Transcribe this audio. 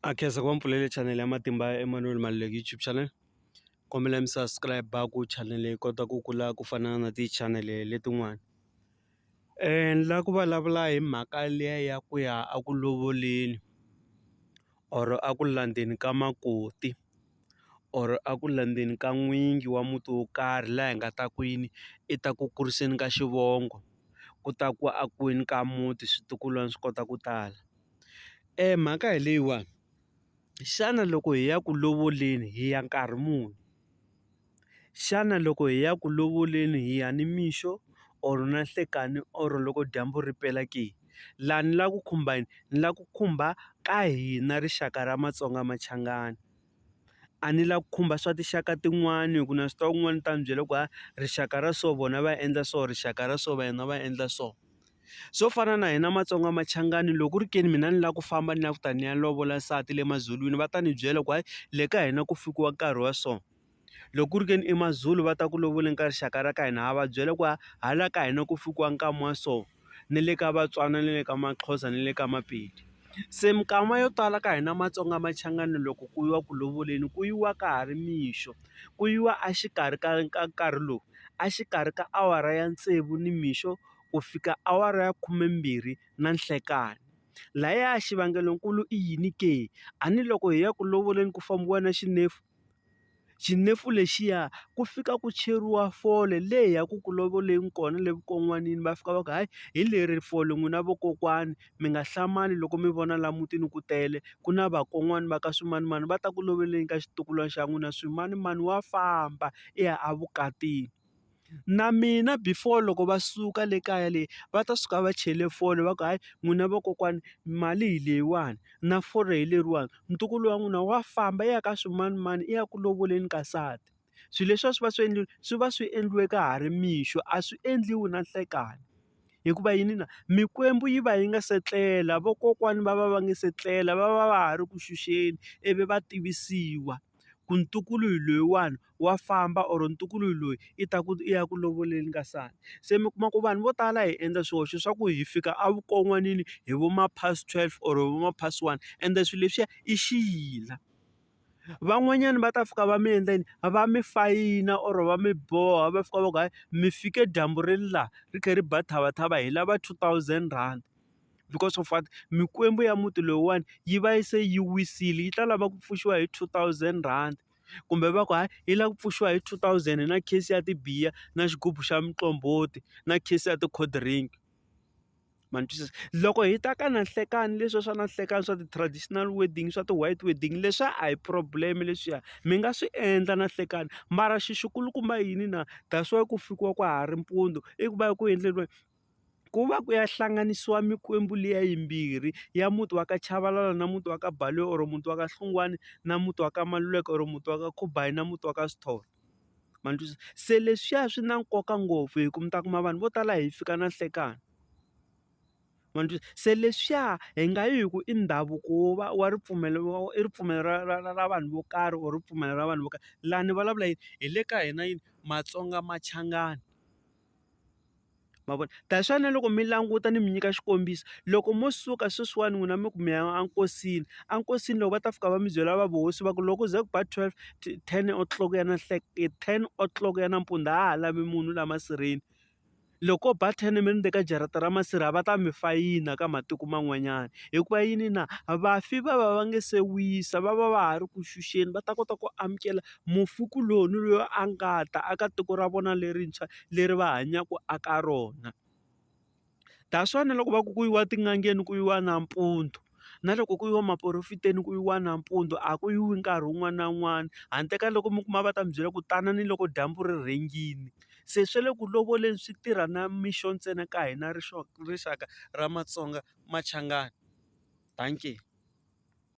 A khensa ku va mpfulele channel ya Matimba ya Emmanuel Maluleke YouTube channel kombela mi subscribe ku channel yi kota ku kula ku fana na ti channel letin'wana ni la ku vulavula hi mhaka liya ya ku ya a ku lovoleni or a ku landzeni ka makoti or a ku landzeni ka n'wingi wa muti wo karhi laha hi nga ta kwini i ta ku kuriseni ka xivongo ku ta ku a kwini ka muti switukulwana swi kota ku tala. mhaka hi leyiwani xana loko hi ya ku lovoleni hi ya nkarhi muni xana loko hi ya ku lovoleni hi ya nimixo or na nhlekani or loko dyambu ri pela ke laha ni lava ku khumba yini ni lava ku khumba ka hina rixaka ra Matsonga Machangani. a ni la ku khumba swa tinxaka tin'wani hi ku na swi tiva kun'wani ni ta mi byela ku ha rixaka ra so vona va endla so rixaka ra so va hina va endla so swo fana na hina Matsonga Machangani loko ku ri ke ni mina ni lava ku famba ni lava ku ta ni ya lovola nsati le maZulwini va ta ni byela ku hayi le ka hina ku fikiwa nkarhi wa so. loko ku ri ke ni i maZulu va ta ku lovoleni ka rixaka ra ka hina ha va byela ku hala ka hina ku fikiwa nkama wa so ni le ka Vatswana ni le ka Maxhosa ni le ka Mapedi se minkama yo tala ka hina Matsonga Machangani loko ku yiwa ku lovoleni ku yiwa ka ha ri mixo ku yiwa a xikarhi ka ka nkarhi lowu a xikarhi ka awara ya tsevu ni mixo ku fika awara ya khumembirhi na nhlekani lahaya xivangelonkulu i yini ke a ni loko hi ya ku lovoleni ku fambiwa na xinefu. xinefu lexiya ku fika ku cheriwa fole le ya ku ku lovoleni kona le vukon'wanini va fika va ku hayi hi leri fole n'wina vakokwani mi nga hlamali loko mi vona la mutini ku tele ku na vakon'wani va ka swimanimani va ta ku lovoleni ka xitukulwana xa n'wina swimanimani wa famba i ya evukatini. Na mina before loko va suka le kaya le va ta suka va chele fole va ku hayi n'wina vakokwani mali hi leyiwani na fole hi leriwani ntukulu wa n'wina wa famba i ya ka swimanimani i ya ku lovoleni ka nsati swilo leswi a swi va swi endliwi swi va swi endliwe ka ha ri mixo a swi endliwi na nhlekani hikuva yini na mikwembu yi va yi nga se tlela vakokwani va va va nga se tlela va va va ha ri ku xuxeni ivi va tivisiwa. ku ntukulu hi loyiwani wa famba or ntukulu hi loyi i ta ku i ya ku lovoleni ka sani se mi kuma ku vanhu vo tala hi endla swihoxo swa ku hi fika a vukon'wanini hi vo ma past twelve or hi vo ma past one ende swilo leswiya i xiyila van'wanyani va ta fika va mi endla yini va mi fayina or va mi boha va fika va ku hayi mi fike dyambu ri ri laha ri kha ri ba thavathava hi lava two thousand rand. because of what mikwembu ya muti lowuwani yi va yi se yi wisile yi ta lava ku pfuxiwa hi two thousand rand kumbe va ku hayi yi lava ku pfuxiwa hi two thousand na case ya tibiya na xigubu xa muqombhoti na case ya ti-cold drink ma ni twisisa loko hi ta ka na nhlekani leswi swa na nhlekani swa ti-traditional wedding swa ti-white wedding leswiya a hi problem leswiya mi nga swi endla na nhlekani mara xi xi kulukumba yini na that's why ku fikiwa ka ha ri mpundzu i ku va ku endleriwa. ku va ku ya hlanganisiwa mikwembu liya yimbirhi ya muti wa ka Chabalala na muti wa ka Baloyi or muti wa ka Hlungwani na muti wa ka Maluleke or muti wa ka Khubayi na muti wa ka Sithole ma ni twisisa, se leswiya swi na nkoka ngopfu hi ku mi ta kuma vanhu vo tala hi fika na nhlekani ma ni twisisa, se leswiya hi nga yi hi ku i ndhavuko wo va wa ripfumelo i ripfumelo ra ra ra ra vanhu vo karhi or ripfumelo ra vanhu vo karhi laha ni vulavula yini hi le ka hina yini Matsonga Machangani. ma vona ta swona loko mi languta ni mi nyika xikombiso loko mo suka sweswiwani n'wina mi ku mi ya enkosini enkosini loko va ta fika va mi byela va vuhosi va ku loko ze ku ba twelve ten o clock ya na nhleketa ten o clock ya nampundzu a ha lavi munhu laha masirheni loko ko ba ten mi ri ndzeni ka jarata ra masirha a va ta mi fayina ka matiko man'wanyana hikuva yini na vafi va va va nga se wisa va va va ha ri ku xuxeni va ta kota ku amukela mufi kuloni loyi a nga ta aka tiko ra vona lerintshwa leri va hanyaka eka rona. That's why na loko va ku ku yiwa etin'angeni ku yiwa nampundzu, na loko ku yiwa maphorofeteni ku yiwa nampundzu a ku yiwi nkarhi wun'wana na wun'wana. Handle ka loko mi kuma va ta mi byela ku tana ni loko dyambu ri rhendzile. Se swa le ku lovoleni swi tirha na mixo ntsena ka hina rixaka ra matsonga machangani. Dankie.